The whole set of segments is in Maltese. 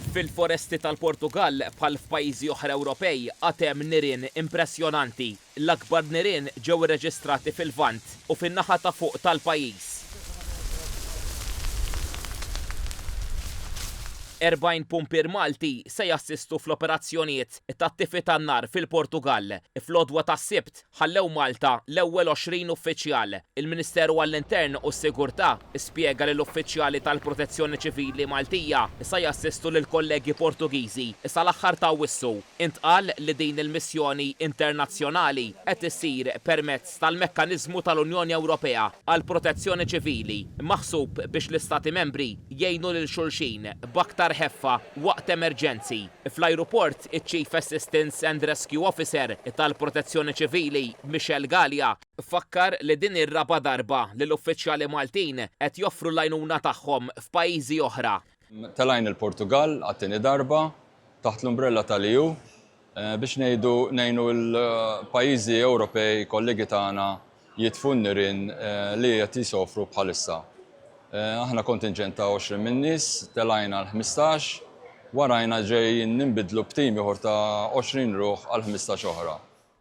Fil-foresti tal-Portugall, bħal f'pajjiżi oħra Ewropej, għad hemm nirien impressjonanti. L-akbar nirien ġew irreġistrati fil-Lvant u fin-naħa ta' fuq tal-pajjiż. 40 pumpier Malti se jassistu fl-operazzjonijiet ta' tifi tan-nar fil-Portugall. Fl-għodwa tas-Sibt, ħallew Malta l-ewwel 20 uffiċjal. Il-Ministeru għall-Intern u s-Sigurtà spjega li l-uffiċjali tal-Protezzjoni Ċivili Maltija sa jassistu lill-kollegi Portugiżi sa l-aħħar ta' Awwissu. Intqal li din il-missjoni internazzjonali qed issir permezz tal-Mekkaniżmu tal-Unjoni Ewropea għall-Protezzjoni Ċivili maħsub biex l-Istati Membri jgħinu lil xulxin b'aktar ħeffa waqt emerġenzi. Fl-ajruport Waqt iċ-Chief Assistance and Rescue Officer tal-Protezzjoni Ċivili, Michel Galea, fakkar li din ir-raba' darba li l-uffiċjali Maltin qed joffru l-għajnuna tagħhom f'pajjiżi oħra. Telajn il-Portugall għat-tieni darba taħt l-umbrella tal-EU biex ngħidu ngħinu l-pajjiżi Ewropej kollegi tagħna jitfu n-nirien li qed jsofru bħalissa. Aħna kontinġent ta' 20 min-nies, telgħin għal ħmistax, warajna ġejjin ninbidlu b'tim ieħor ta' 20 ruħ għal ħmistax oħra.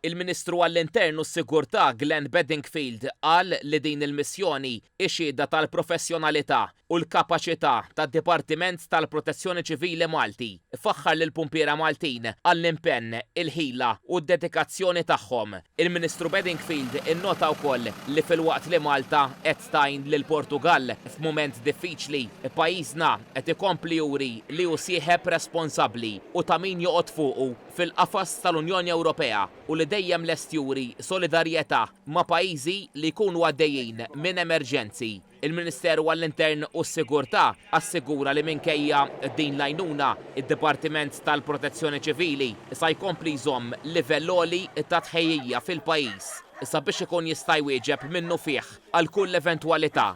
Il-Ministru għall-Intern u s-Sigurtà Glenn Bedingfield qal li din il-missjoni hi xhieda tal-professjonalità, u l-kapaċità tad-Dipartiment tal-Protezzjoni Ċivili Malti, ifaħħar lill-pumpiera Maltin għall-impenn, il-ħila u d-dedikazzjoni tagħhom. Il-Ministru Bedingfield innota wkoll li filwaqt li Malta qed tgħin lill-Portugall f'mument diffiċli, pajjiżna qed ikompli juri li hu sieħeb responsabbli u ta' min joqgħod fuqu fil-qafas tal-Unjoni Ewropea u li dejjem lest juri solidarjetà ma' pajjiżi li jkunu għaddejjin minn emerġenzi. Il-Ministeru għall-Intern u s-Sigurtà assigura li minkejja din l-għajnuna, id-Dipartiment tal-Protezzjoni Ċivili sa jkompli jżomm livell għoli ta' tħejjija fil-pajjiż sabiex ikun jista' jwieġeb minnufih għal kull eventwalità.